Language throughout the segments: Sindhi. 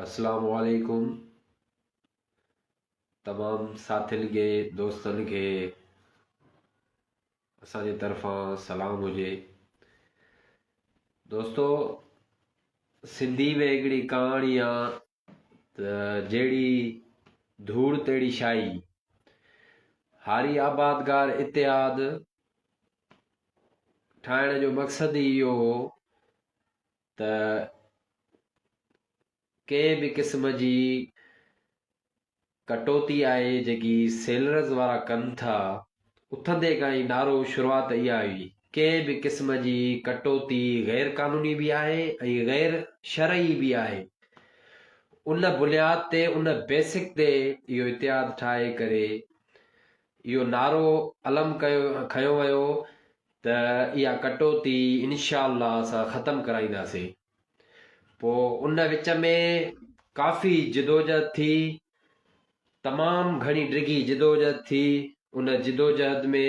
اسلام عليڪم تمام ساٿين کي دوستن کي اسان جي طرفان سلام هجي دوستو سنڌي ۾ هڪڙي ڪهاڻي آ ته جهڙي ڌوڙ تهڙي شاهي. هاري آبادگار اتحاد ٺاهڻ جو مقصد ئي اهو هو ته ڪنهن به قسم جي ڪٽوتي آهي جيڪي سيلرز وارا ڪن ٿا، اٿندي کان ئي نعرو شروعات اها هئي، ڪنهن به قسم جي ڪٽوتي غير قانوني به آهي ۽ غير شرعي به آهي. ان بنياد تي ان بيسڪ تي اهو اتحاد ٺاهي ڪري اهو نعرو علم ڪيو کنيو ويو ته اها ڪٽوتي انشاء الله اسان ختم ڪرائينداسين. پوء ان وچ ۾ ڪافي جدوجهد ٿي، تمام گهڻي ڊگهي جدوجهد ٿي، ان جدوجهد ۾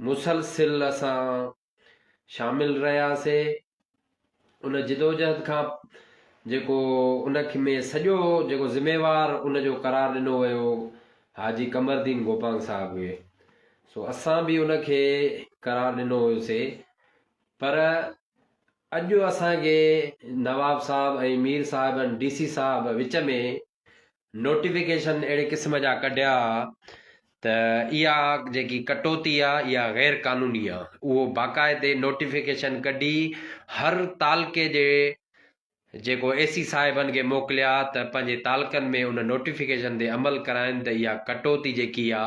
مسلسل اسان شامل رهياسي، ان جدوجهد کان جيڪو ان ۾ سڄو جيڪو ذميوار ان جو قرار ڏنو ويو حاجي قمردين گوپانگ صاحب هئي، سو اسان به ان کي قرار ڏنو هيوسي، پر اڄ اسان کي نواب صاحب ۽ مير صاحب ۽ ڊي سي صاحب وچ ۾ نوٽيفڪيشن اهڙي قسم جا ڪڍيا ته اها جيڪي ڪٽوتي آ اها غير قانوني آ اهو باقاعدي نوٽيفڪيشن ڪڍي هر تعلقي جي جيڪو اي سي صاحبن کي موڪليا ته پنهنجي تعلقن ۾ ان نوٽيفڪيشن تي عمل ڪرائن ته اها ڪٽوتي جيڪي آ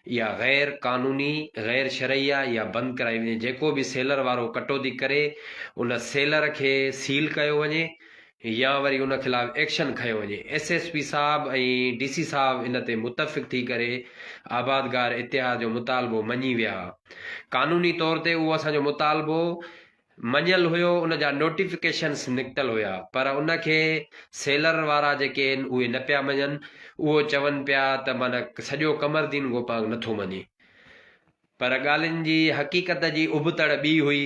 اها غير قانوني، غير شرعي آهي، اها بند ڪرائي وڃي، جيڪو به سيلر وارو ڪٽوتي ڪري ان سيلر کي سيل ڪيو وڃي يا وري ان خلاف ايڪشن کنيو وڃي، ايس ايس پي صاحب ۽ ڊي سي صاحب ان تي متفق ٿي ڪري آبادگار اتحاد جو مطالبو مڃي ويا، قانوني طور تي اهو اسان جو مطالبو مڃيل هيو ان جا نوٽيفڪيشنس نڪتل هيا پر ان کي سيلر وارا جيڪي هين اهي نه پيا مڃن اهو چون پيا ته معنيٰ سڄو قمردين گوپانگ نٿو مڃي پر ڳالهين جي حقيقت جي ابتڙ ٻي هئي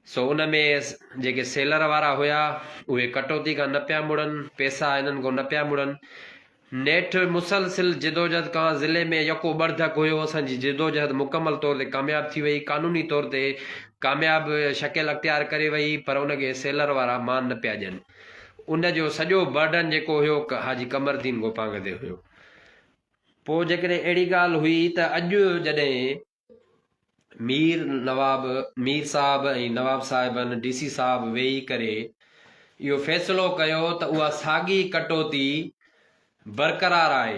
سو ان ۾ جيڪي سيلر وارا هيا اهي ڪٽوتي کان نه پيا مڙن پيسا هنن کان نه پيا مڙن نيٺ مسلسل جدوجهد کان ضلعي ۾ يڪو ٻرڌڪ هيو، اسان جي جدوجهد مڪمل طور تي ڪامياب ٿي وئي، قانوني طور تي ڪامياب شڪل اختيار ڪري وئي پر ان کي سيلر وارا مان نه پيا ڏين، ان جو سڄو برڊن جيڪو هيو حاجي قمردين گوپانگ تي هيو. پوء جيڪڏهن اهڙي ڳالهه هئي ته اڄ جڏهن. مير نواب، مير صاحب ۽ نواب صاحبن، ڊي سي صاحب، ويهي ڪري اهو فيصلو ڪيو ته اها ساڳي ڪٽوتي برقرار آهي.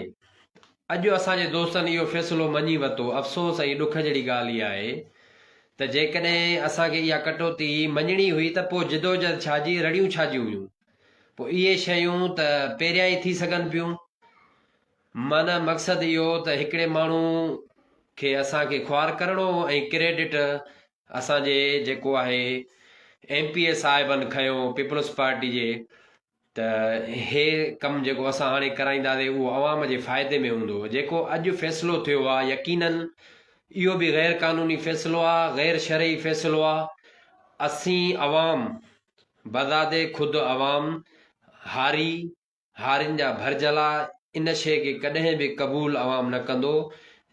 اڄ اسان جي دوستن اهو فيصلو مڃي ورتو. افسوس ۽ ڏک جهڙي ڳالهه اها آهي ته جيڪڏهن اسان کي اها ڪٽوتي مڃڻي هئي ته پوء جدوجهد ڇا جي، رڙيون ڇا جون هيون؟ پوء اهي شيون ته پهريان ئي ٿي سگهن پيون. معنيٰ مقصد اهو ته هڪڙي ماڻهو کي اسان کي خوار ڪرڻو هو ۽ ڪريڊٽ اسان جي جيڪو آهي ايم پي اي صاحبن کنيو پيپلز پارٽي جي ته هي ڪم جيڪو اسان هاڻي ڪرائينداسي اهو عوام جي فائدي ۾ هوندو جيڪو اڄ فيصلو ٿيو آهي يقيناً اهو به غير قانوني فيصلو آهي غير شرعي فيصلو آهي اسين عوام بذات خود عوام هاري هارين جا ڀرجهلا ان شيء کي ڪڏهن به قبول عوام نه ڪندو،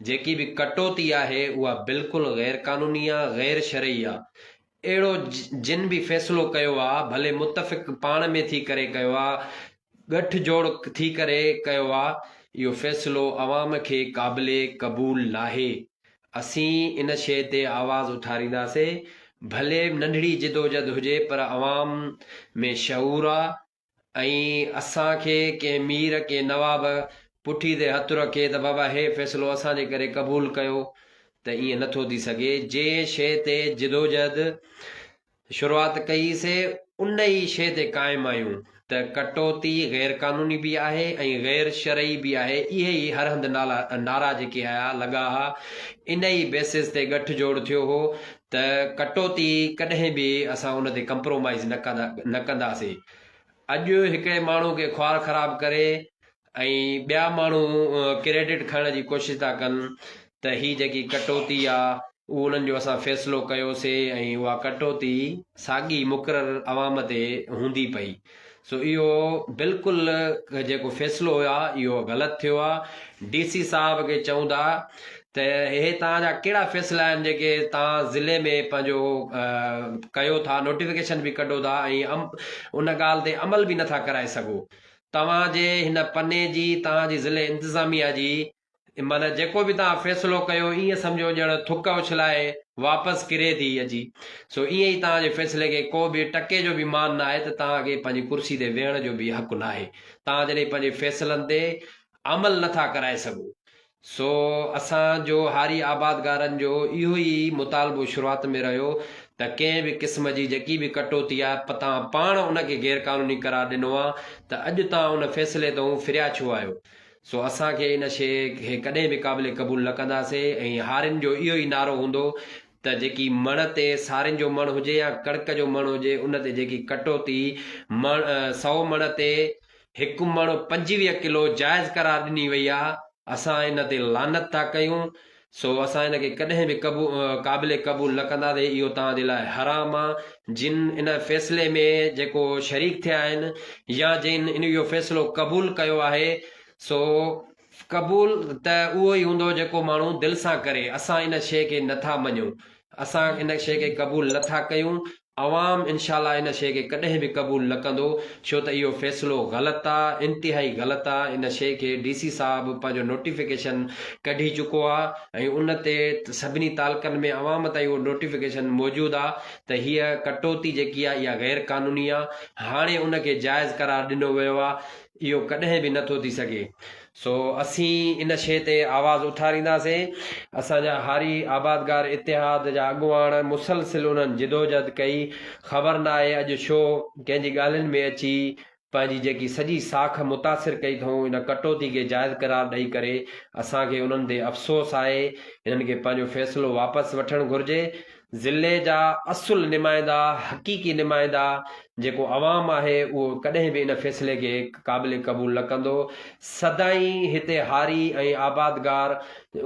جيڪي به ڪٽوتي آهي اها بلڪل غير قانوني آ، غير شرعي آ. اهڙو جن به فيصلو ڪيو آ ڀلي متفق پاڻ ۾ ٿي ڪري ڪيو آ، ڳٺ جوڙ ٿي ڪري ڪيو آ، اهو فيصلو عوام کي قابل قبول ناهي. اسين ان شيء تي آواز اٿارينداسين، ڀلي ننڍڙي جدوجھد هجي پر عوام ۾ شعور آ، ۽ اسان کي ڪنهن مير، ڪنهن نواب، پٺي تي هٿ رکي ته بابا هي فيصلو اسان جي ڪري قبول ڪيو ته ايئن نه ٿو ٿي سگهي. جنهن شيء تي جدوجهد شروعات ڪئي سي ان ئي شيء تي قائم آهيون ته ڪٽوتي غير قانوني به آهي ۽ غير شرعي به آهي اهي ئي هر هنڌ نعرا جيڪي آيا لڳا ها ان ئي بيسز تي ڳٺ جوڙ ٿيو هو ته ڪٽوتي ڪڏهن به اسان ان تي ڪمپرومائيز نه ڪندا نه ڪنداسين اڄ هڪڙي ماڻهو کي خوار خراب ڪري ۽ ٻيا ماڻهو ڪريڊٽ کڻڻ جي ڪوشش ٿا ڪن ته هي جيڪي ڪٽوتي آ اهو انهن جو اسان فيصلو ڪيوسي ۽ اها ڪٽوتي ساڳي مقرر عوام تي هوندي پئي سو اهو بلڪل جيڪو فيصلو هيو آ اهو غلط ٿيو آ ڊي سي صاحب کي چئون ٿا ته هي توهان جا ڪهڙا فيصلا آهن جيڪي توهان ضلعي ۾ پنهنجو ڪيو ٿا نوٽيفڪيشن به ڪڍو ٿا ۽ ان ڳالهه تي عمل به نٿا ڪرائي سگهو توهان جي هن پني جي توهان جي ضلعي انتظاميا جي ان معنيٰ جيڪو به توهان فيصلو ڪيو، ائين سمجهو ڄڻ ٿڪ اڇلائي واپس ڪري ٿي اچي. سو ائين ئي توهان جي فيصلي کي ڪو به ٽڪي جو به مان ناهي ته توهان کي پنهنجي ڪرسي تي ويهڻ جو به حق ناهي. توهان جڏهن پنهنجي فيصلن تي عمل نه ٿا ڪرائي سگهو. سو اسان جو هاري آبادگارن جو اهو ئي مطالبو شروعات ۾ رهيو ته ڪنهن به قسم جي جيڪي به ڪٽوتي آهي پ توهان پاڻ ان کي غيرقانوني قرار ڏنو آهي ته اڄ توهان ان فيصلي تئون ڦريا ڇو آهيو؟ سو اسان کي ان شيء کي ڪڏهن به قابل قبول نه ڪنداسين ۽ هارين جو اهو ئي نعرو هوندو ته جيڪي مڻ تي سارين جو مڻ هجي يا ڪڻڪ جو مڻ هجي ان تي جيڪي ڪٽوتي مڻ سئو مڻ تي هڪ مڻ پنجويهه ڪلو جائز قرار ڏني وئي آهي اسان ان تي لعنت ٿا ڪيون سو اسان ان کي ڪڏهن به قابل قبول نه ڪنداسين اهو توهان جي لاء حرام آ جن ان فيصلي ۾ جيڪو شريڪ ٿيا آهن يا جن ان اهو فيصلو قبول ڪيو آهي سو قبول ته اهو ئي هوندو جيڪو ماڻهو دل سان ڪري اسان ان شيء کي نٿا مڃون اسان ان شيء کي قبول نٿا ڪيون عوام انشاء الله ان شيء کي ڪڏهن به قبول نه ڪندو ڇو ته اهو فيصلو غلط آ انتهائي غلط آ ان شيء کي ڊي سي صاحب پنهنجو نوٽيفڪيشن ڪڍي چڪو آ ۽ ان تي سڀني تعلقن ۾ عوام تائين اهو نوٽيفڪيشن موجود آ ته هيء ڪٽوتي جيڪي آ اها غير قانوني آ هاڻي ان کي جائز قرار ڏنو ويو آ اهو ڪڏهن به نه ٿو ٿي سگهي سو اسين ان شيء تي آواز اٿارينداسين. اسان جا هاري آبادگار اتحاد جا اڳواڻ مسلسل انهن جدوجهد ڪئي. خبر ناهي اڄ شو ڪنهن جي ڳالهين ۾ اچي پنهنجي جيڪي سڄي ساک متاثر ڪئي اٿئون ان ڪٽوتي کي جائز قرار ڏئي ڪري اسان کي انهن تي افسوس آهي. هنن کي پنهنجو فيصلو واپس وٺڻ گهرجي. ضلعي جا اصل نمائندا، حقيقي نمائندا جيڪو عوام آهي اهو ڪڏهن به ان فيصلي کي قابل قبول نه ڪندو، سدائين هتي هاري ۽ آبادگار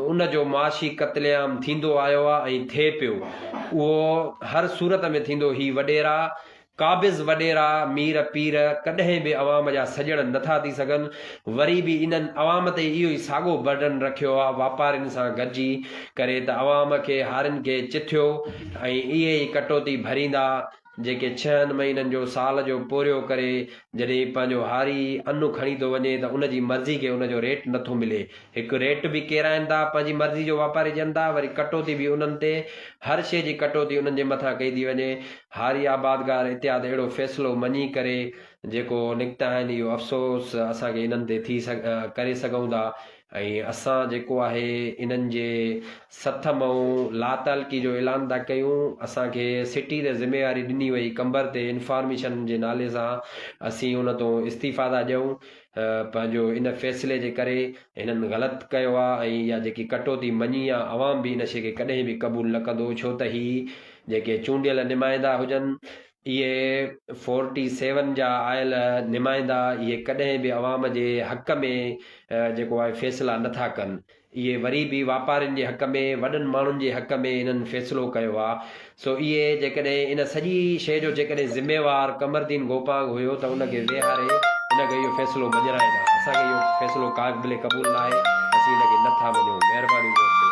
ان جو معاشي قتل عام ٿيندو آيو آهي ۽ ٿئي پيو اهو هر صورت ۾ ٿيندو هي وڏيرا قابض وڏيرا، مير پير، ڪڏهن به عوام جا سڄڻ نه ٿا ٿي سگهن، وري به انهن عوام تي اهو ئي ساڳو برڊن رکيو آهي واپارين سان گڏجي ڪري ته عوام کي هارين کي چٿيو ۽ اهي ئي ڪٽوتي ڀريندا جيڪي ڇهن مهينن جو سال جو پورهيو ڪري جڏهن پنهنجو هاري ان کڻي ٿو وڃي ته ان جي مرضي کي ان جو ريٽ نه ٿو ملي هڪ ريٽ به ڪيرائين ٿا پنهنجي مرضي جو واپاري ڏين ٿا وري ڪٽوتي به انهن تي هر شيء جي ڪٽوتي انهن جي مٿان ڪئي ٿي وڃي هاري آبادگار اتحاد اهڙو فيصلو مڃي ڪري جيڪو نڪتا آهن اهو افسوس اسان کي انهن تي ٿي ڪري سگهون ٿا ۽ اسان جيڪو آهي انهن جي سٿ مئون لاتعلقي جو اعلان ٿا ڪيون اسان کي سٽي تي ذميواري ڏني وئي قمبر تي انفارميشن جي نالي سان اسين ان تون استعيفا ٿا ڏيون پنهنجو ان فيصلي جي ڪري هنن غلط ڪيو آ ۽ اها جيڪي ڪٽوتي مڃي آ عوام به ان شي کي ڪڏهن به قبول نه ڪندو ڇو ته هي جيڪي چونڊيل نمائندا هجن اهي فورٽي سيون جا آيل نمائندا اهي ڪڏهن به عوام جي حق ۾ جيڪو آهي فيصلا نه ٿا ڪن. اهي وري به واپارين جي حق ۾ وڏن ماڻهن جي حق ۾ انهن فيصلو ڪيو آ سو اهي جيڪڏهن ان سڄي شيء جو جيڪڏهن ذميوار قمردين گوپانگ هيو ته ان کي ويهاري ان کي اهو فيصلو مڃرائين ها اسان کي اهو فيصلو قابل قبول ناهي اسين ان کي نه ٿا مڃون مهرباني دوستو.